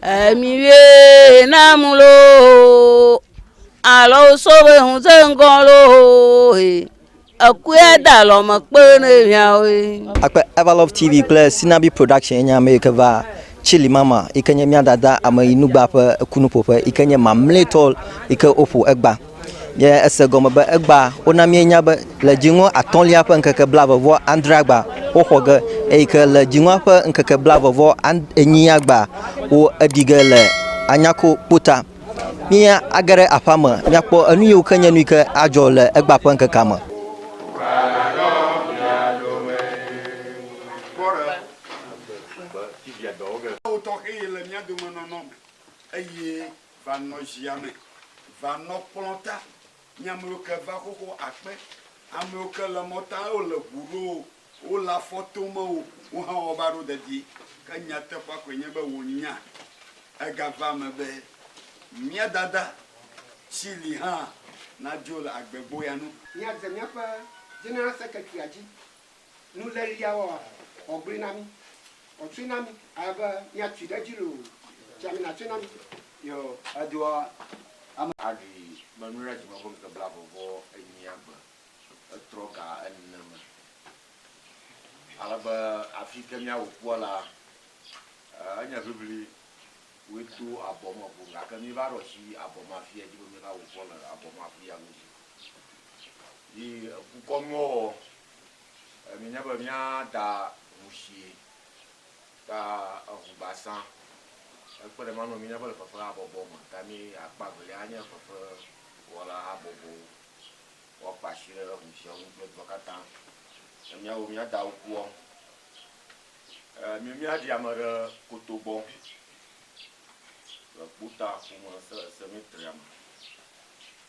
Emiwie na mulo alɔ sobe ŋuse ŋgɔ lo ekue da lɔ me kpe ne viawe. Akpe Everlove TV kple Sinabi Production enye ame yi ke va Chili Mama yi ke nye mía dada ame yi nugba ƒe ekunuƒoƒe yi ke nye mamlɛtɔ yi ke woƒo egba. Nye ese gɔme be egbea, wona míenya be le dziŋɔ atɔ̃lia ƒe ŋkeke blaeve vɔ adrea gbea, woxɔ ge, eyi ke le dziŋɔa ƒe ŋkeke blaeve vɔ enyia gbea, wo eɖi ge le Anyako kpo ta. Mí age ɖe aƒea me mía kpɔ enu yiwo ke nye nu yi ke adzɔ le egbea ƒe ŋkekea me. Va nɔ zia me, va nɔ kplɔ̃ ta. Nye amewo ke va xoxo akpe. Amewo ke le mɔ ta, wo le ŋu ɖo o, wo le afɔ tom o, wo hã wo va ɖo dedie. Ke nyateƒea koe nye be wò nya ega va eme be mía Dada si li hã nadzo le agbe gboya nu. Mía dze míaƒe General Secretary-a dzi. nulélia woa ɔgbli na mí, ɔtsoe na mí ale be míatsoe ɖe edzi loo tsia mí natsoe na mí. Yo edoa ame. Aɖui me nu ɖe dzime ƒe ŋkeke blaeve vɔ enyia gbe etrɔ ga ene me. Ale be afi ke míawu kpua la, enye ʋiʋli woe to abɔ me ƒo gake mí va ɖo asi abɔ me afia dzi be mí va wu kpɔ le abɔ me afia godzi. Yi ekukɔnuwɔwɔ. Mienya be mía da ŋu sie ta eŋu gbasã. Ekpe ɖe ema ŋu be míenya be le fefe habɔbɔ me ta mí akpa velia anye fefe wɔla habɔbɔwo. Woakpa asi ɖe ŋu siawo ŋu kple dua katã. Ne míawo mía dawo kua, mi mía ɖi ame ɖe koto gbɔ le kpota ƒome se semetria me.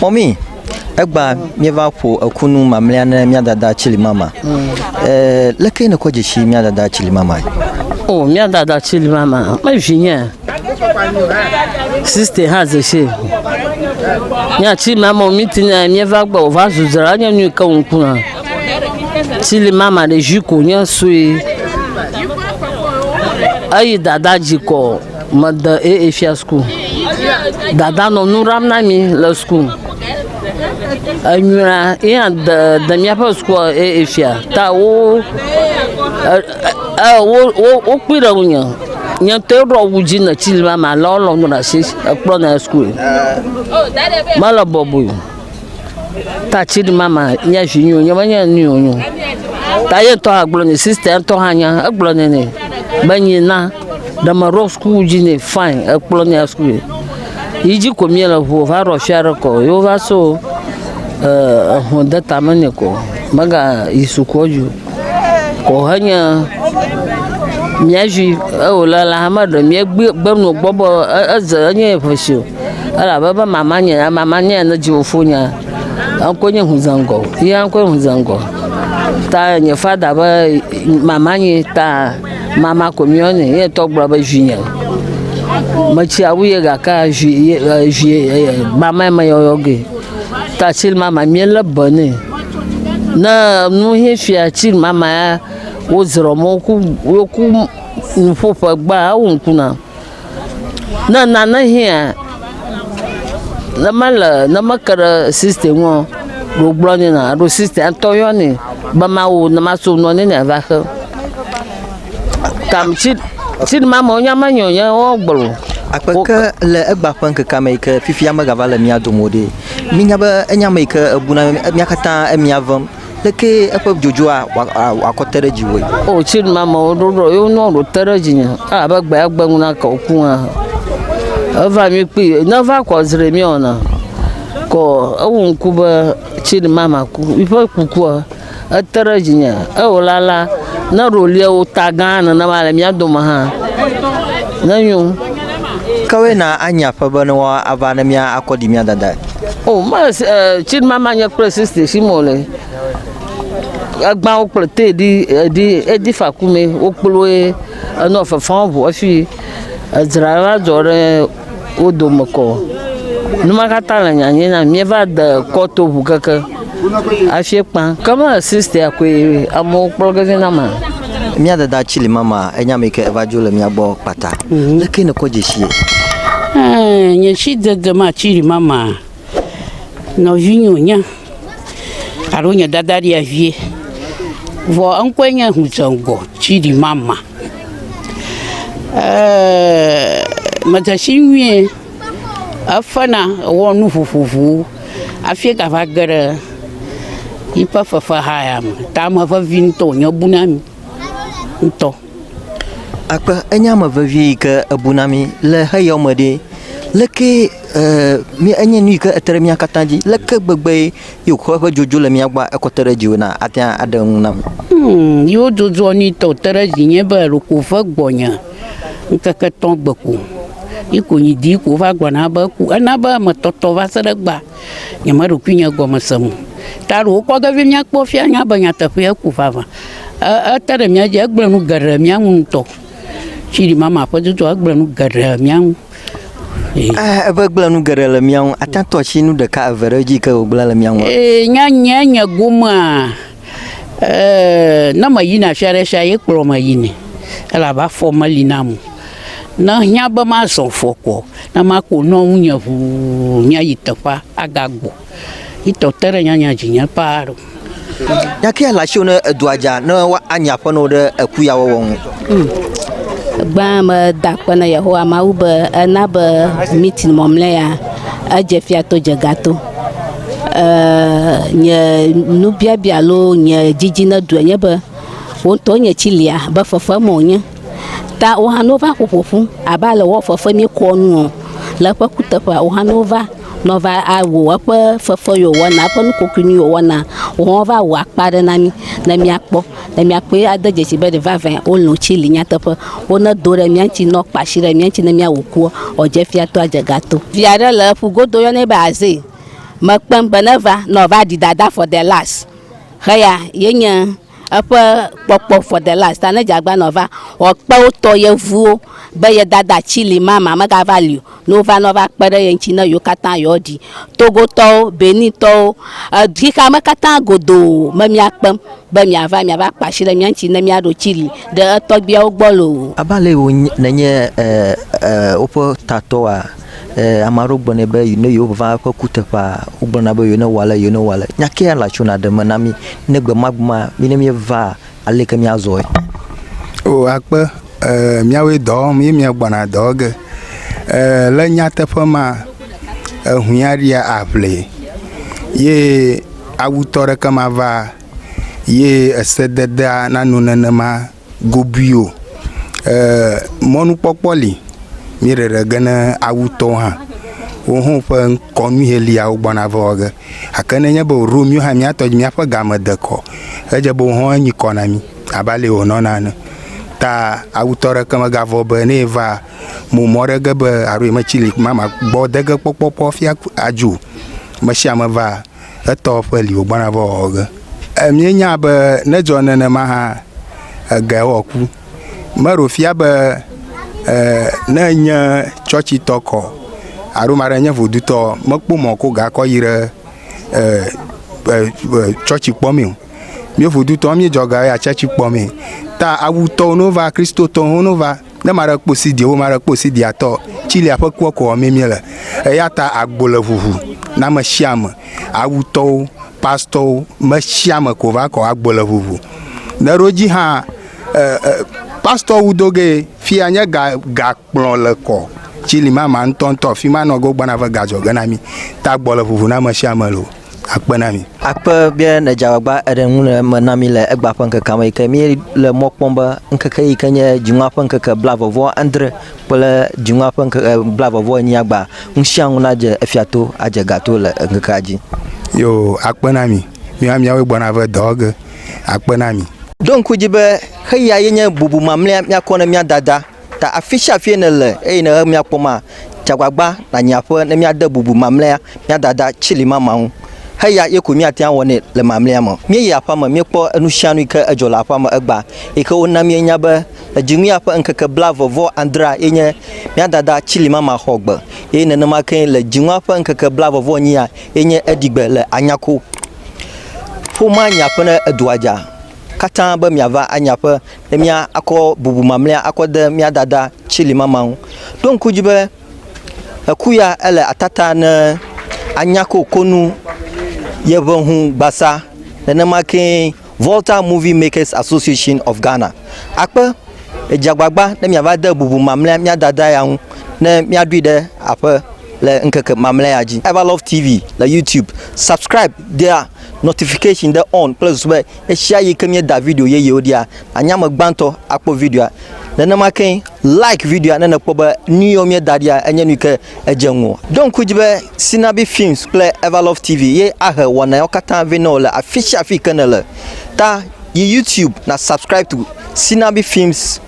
Mɔmi, egba míeva ƒo eku nu mamlea ne mía dada Chilimama. Ee, leke nèkpɔ dzesi mía dada Chilimamae? O, mía dada Chilimama, mevinye. Siste hã dzesi. Mía Chilimama miti ne míeva gbɔ wòva zu dzra nye nu ke ŋkuna. Chilimama ɖevi ko nye sue. Eyi dada dzi kɔ. Mede AA fia school. Dada nɔ nu ɖam na mi le school. Enyuia yea de de míaƒe school AA fia ta wo e wo wo wokpui ɖe ŋunye. Nye ŋutɔ ɖɔ wu dzi ne tsi li ma ma lɔ lɔ nu ɖe asi ekplɔ na school. Mele bɔbɔe. ta tsini mama nye vi nyo nye menye nu yo nyo ta ye ŋutɔ hã gblɔ nɛ sista ya ŋutɔ hã nya egblɔ nɛ nɛ be nyi na ɖe meɖo suku dzi nɛ fine ekplɔ nɛ suku yi yi dzi ko mie le ʋu va ɖɔ fia ɖe kɔ yo va so eh, ehun de tame nɛ ko mega yi sukua dzi o ko henye mía vi ewòle le hame ɖe mía gbe gbenu gbɔ be e- eze enye ƒe si o elabe ebe mama nye ya mama nye ya ne dzi wofo nya enko nye ŋu zangɔ ya enko ŋu zangɔ ta nye fada be mama nye ta mama ko mi yɔnɛ ye tɔ gblɔ be zi nye metsi awu ye gaka zi ye zi mama me yɔyɔ ge ta tsi mama mi le be ne ne nu ye fia tsi mama ya wozrɔ mɔ ku woku nuƒo ƒe gba awu ŋku na Ne nane hiã, ne mele, ne meke ɖe sista ŋu o, ɖe wogblɔ nɛ na alo sista ŋutɔ yɔnɛ be mawo ne maso nu ne yeava xe. Tam tsi tsi ne ma me wonya menyo nya woa gblɔ o. Akpe ke le egba ƒe ŋkekea me yi ke fifia megava le mía dome o ɖe, mínya be enye ame yi ke ebuna mí katã emia vem. Lekee eƒe dzodzroa wòakɔ te ɖe dziwòe? O tsi ɖe mama wo ɖoɖo, yo nɔ ɖo te ɖe dzi nye. A be gbe agbe ŋu na kɔ ku hã. Eva mi kpi, ne va kɔ zre mi ona. Kɔ ewu ŋku be tsi ɖe mama ku. Mi ƒe kukua ete ɖe dzi nye. Ewo la la, ne ɖo lia wo ta gã nene ma le mia dome hã. Ne nyo. Kawoe na anya ƒe be ne woa ava ne mia akɔ ɖi mia dada? O me eh, tsi ma ma nye kple sister si mo le. Egba wo kple te di edi edi fa ku me wo kplo e enɔ fefan vo efi edzra va dzɔ ɖe wo dome kɔ. Numa kata le nyanye na mi va de kɔto ʋu keke. Afiɛ kpã. Ke me sister koe amewo kplɔ ge vɛ na ma. Mía dada ci li mama enya mi ke eva dzo le mía gbɔ kpata. Mhm. Leke ne kɔ jeshi ye? Eh, nye ci dede ma ci li mama nɔvi nyo nya alo nye dada dia vie. Vɔ enkɔe nye hudzengɔ ci li mama. Eh, mejeshi nyuie. Efena wɔ nu vovovowo hafi gava ge ɖe yiƒe fefeha ya me. Ta ame vevi ŋutɔ wònye bu na mi ŋutɔ. Akpe enye ame vevi yi ke ebu na mi le xeya me ɖe. Leke mi enye nu yi ke te ɖe mía katã dzi. Leke gbegbe ye wòkɔ eƒe dzodzo le mía gbɔ ekɔ te ɖe dziwò na ate ŋu aɖe eŋu nam. Yewo dzodzo nu yi te wòte ɖe dzinye be ɖeko ve gbɔnye. Ŋkeke etɔ gbe ko yi ko nyi di ko va gblɔ na be eku. Ena be ame tɔtɔ va se ɖe gba nye me ɖokui nye gɔme se mo. Ta ɖo wokpɔ ge vie mia kpɔ fia nya be nyateƒe eku vava. Ete ɖe mia dzi egblɔe nu geɖe mia nu ŋutɔ. Tsi ɖi mama ƒe dodo egblɔe nu geɖe mia nu. Eh eve gblɔe nu geɖe le mia nu. Ate tɔ tsi nu ɖeka eve ɖe edzi ke wogblɔe le mia nu. E nya nye nye gomea. Eeeee ne me yina fia ɖe fia ye kplɔ me yinɛ elabe afɔ meli nam o. Ne ehiã be mazɔ afɔ koa na maƒo nu ŋu nye ŋuu nya yi teƒea aga gbɔ. Etɔ te ɖe nyanya dzi nye paa ɖo. Nya kae le asiwò ne edua dza ne woanyi aƒenɔwò ɖe eku ya wɔwɔ ŋu? Gbãa meda akpe na Yehowa Mawu be ena be meeting mamlɛa edze fia to dze ga to. Eeeee nye nubiabia alo nye didi ne ɖu enye be wò ŋutɔ nye tsi lia be fefem wònye. Ta wò hã ne wova ƒo ƒo ƒu abe ale wɔ fefe mí kɔ nu ɔ le eƒe kuteƒe wò hã ne wova ne wova awɔ eƒe fefe yi wòwɔna eƒe nu kɔkɔe nu yi wòwɔna wò hã va wɔ akpa ɖe na mí ne míakpɔ. Ne míakpɔe ade dzesi be ɖe vavãe wolɔ̃ tsili nyateƒe, wo nedo ɖe mía ŋuti ne woakpa asi ɖe mía ŋuti ne míawu kua, wòdze fia to adze ga to. Vi aɖe le ƒu godo woyɔnɛ be Azee. Mekpem be neva ne wòava ɖi dada for the last. Heya ye nye eƒe kpɔkpɔ for the last. Ta ne dze agbagba ne wòava, wòakpe wotɔ yevuwo be ye dada tsili mama megava li o. ne wova nɔ va kpe ɖe ye ŋtsi ne yewo katã yewoa ɖi togo tɔwo benin tɔwo xexea me katã godoo me mia kpem be mia va mia va kpa asi ɖe mia ŋtsi ne mia ɖo tsili ɖe etɔgbiawo gbɔ loo. Abe ale wo ne nye e e woƒe tatɔwoa e ame aɖewo gblɔ nɛ be ne yewo va eƒe kuteƒea wo gblɔ na be yewo ne wɔ ale yewo ne wɔ ale nya ke ya la tso na ɖe me na mi ne gbe ma gbe ma mi ne mie va. aleke míazɔe? O akpe e, míawoe dɔ wɔm ye míagbɔna dɔ ge. E, le nyateƒe ma, ehuin aɖia aʋli ye awutɔ ɖeke mava ye esededea nano nenema gobui o. E, mɔnukpɔkpɔ li míeɖeɖe ge ne awutɔwo hã. Woho ƒe kɔnu ye lia wogbɔna va wɔ ge. Gake ne enye be wòɖo mí hã mía tɔ dzi míaƒe game de kɔ, edze be wòhɔ̃ enyi kɔ na mí abe ale wònɔna ene. Ta awutɔ aɖeke megavɔ̃ be ne yeva mo mɔ ɖe ge be alo yemetsi li ma magbɔ de ge kpɔkpɔ ƒe afia adzii o. Ame sia ame va etɔ ƒe li wògbɔna va wɔwɔ ge. Míenya be ne edzɔ nenema hã, egea wɔku. Meɖo fia be eh, ne nye tsɔtsitɔ kɔ alo maɖe nye vodutɔ mekpɔ mɔ ko gakɔ yi ɖe eh, eh, eh, tsɔtsi kpɔ mi o. Míe vodutɔ míedzɔ ga ya tsɔtsi kpɔ mi. Ta awutɔwo no va kristotɔwo no va ne maɖe kpɔ sidi wo maɖe kpɔ sidi atɔ tsilia ƒe kua kɔ mi mi le. Eya ta agbo le ʋuʋu na me sia me. Awutɔwo, pastɔwo, me sia me ko va kɔ agbo le ʋuʋu. Ne ɖo dzi hã pastɔ wu do ge fia nye ga ga kplɔ le kɔ tsi li ma ma ŋutɔ ŋutɔ fi ma nɔ go gbana ve ga dzɔ ge na mi ta gbɔ le ʋuʋu na me sia me lo akpe na mi. Akpe be ne dza gbagba eɖe ŋu le me na mi le egba ƒe ŋkeke me yi ke mi le mɔ kpɔm be ŋkeke yi ke nye dziŋua ƒe ŋkeke bla vɔvɔ andre kple dziŋua ƒe ŋkeke bla vɔvɔ enyi agba ŋusia ŋu na dze efia to adze ga to le ŋkekea dzi. Yo akpe na mi. Míawo míawoe gbɔna ve dɔ wɔ ge akpe na mi. Ɖo ŋku edzi be xeyea ye nye bubu mamlea míakɔ ne mía dada ta. Afi sia afie nèle eye nèhe míakpɔma, dze agbagba nànyi aƒe ne míade bubu mamlea mía dada tsili mama ŋu. Xeyea ye koe míate ŋu awɔ nɛ le mamlea me. Míeyi aƒea me, míekpɔ enu sia nu yi ke edzɔ le aƒea me egbea, yi ke wona míenya be le dziŋuya ƒe ŋkeke blaeve vɔ adrea ye nye mía dada tsili mama xɔ gbe. Eye nenema kee le dziŋua ƒe ŋkeke blaeve vɔ enyia, ye nye eɖigbe le anyako ƒomea nya ƒe ne edua dza katã be miava anya ƒe ne mia akɔ bubu mamlea akɔ de mia dada tsili mama ŋu ɖo ŋku dzi be eku ya ele atata ne anyako konu yeʋe ŋu gbasa nenema kee Volta Movie Makers Association of Ghana, akpe, edze agbagba ne miava de bubu mamlea mía dada ya ŋu ne míaɖoe ɖe aƒe le ŋkeke mamlea ya dzi. Everlove TV le YouTube, subscribe dea notification ɖe on kple zu be ɣeshiaɣi ke míeda video yeyewo ɖia, nànye ame gbãtɔ akpɔ videoa. Nenema kee like videoa ne nèkpɔ be nuyiwo míeda ɖia enye nuyike Edze ŋu. Ɖo ŋku edzi be Sinabi Films kple Everlove TV ye ahe wɔna yawo katã vɛ na wò le afi sia afi yi ke nèle. Ta yi YouTube na subscribe to Sinabi Films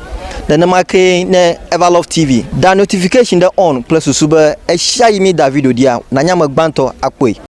nenema kee ne Everlove TV. Da notification ɖe on kple susu be ɣesiaɣi mída video ɖia, nànye ame gbãtɔ akpɔe.